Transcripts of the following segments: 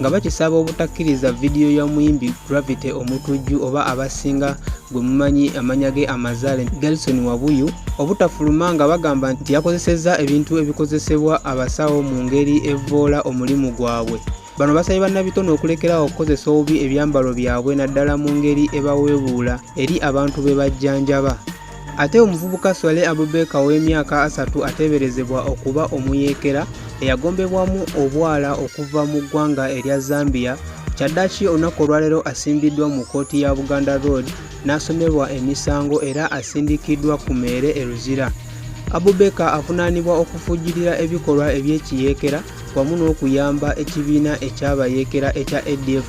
nga bakisaba obutakkiriza vidiyo ya muyimbi Gravity Omutujju oba abasinga gwe mumanyi amanya ge amazaale Gelson Wabuyu obutafuluma nga bagamba nti yakozesezza ebintu ebikozesebwa abasawo mu ngeri evvoola omulimu gwabwe. Bano basabye bannabitone okulekerawo okukozesa obubi ebyambalo byabwe naddala mu ngeri ebaweebuula eri abantu be bajjanjaba. Ate omuvubuka Swale Abubeka ow'emyaka asatu ateeberezebwa okuba omuyeekera eyagombebwamu obwala okuva mu ggwanga erya Zambia kyaddaki olunaku olwaleero asimbiddwa mu kkooti ya Buganda Road n'asomebwa emisango era asindikiddwa ku meere e Luzira. Abubeka avunaanibwa okufujjirira ebikolwa eby'ekiyeekera wamu n'okuyamba ekibiina ekyabayeekera ekya ADF.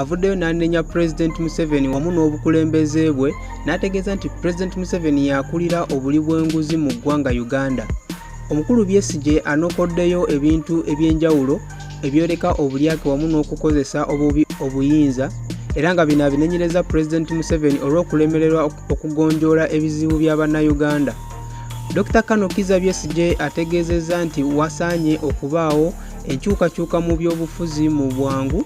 avuddeyo n'anenya pulezidenti museveni wamu n'obukulembeze bwe n'ategeeza nti pulezidenti museveni yakulira obuli bw'enguzi mu ggwanga uganda omukulu byesigye anokoddeyo ebintu eby'enjawulo ebyoleka obulyake wamu n'okukozesa obubi obuyinza era nga bino abinenyereza pulezidenti museveni olw'okulemererwa okugonjoola ebizibu bya bannayuganda dr kano kiza byesigye ategeezezza nti wasaanye okubaawo enkyukakyuka mu byobufuzi mu bwangu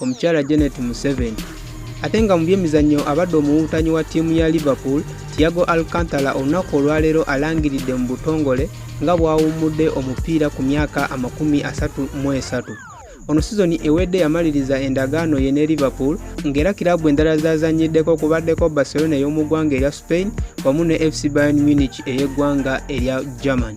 omukyala Janet Museveni ate nga mu byemizannyo abadde omuwuwutanyi wa ttiimu ya liverpool tiago alcantara olunaku olwaleero alangiridde mu butongole nga bwawummudde omupiira ku myaka amakumi asatu mu esatu ono sizoni ewedde yamaliriza endagaano ye ne liverpool ng'era kiraabu endala zazannyiddeko kubaddeko barcelona ey'omu ggwanga erya spain wamu ne fc bayon munich ey'eggwanga erya german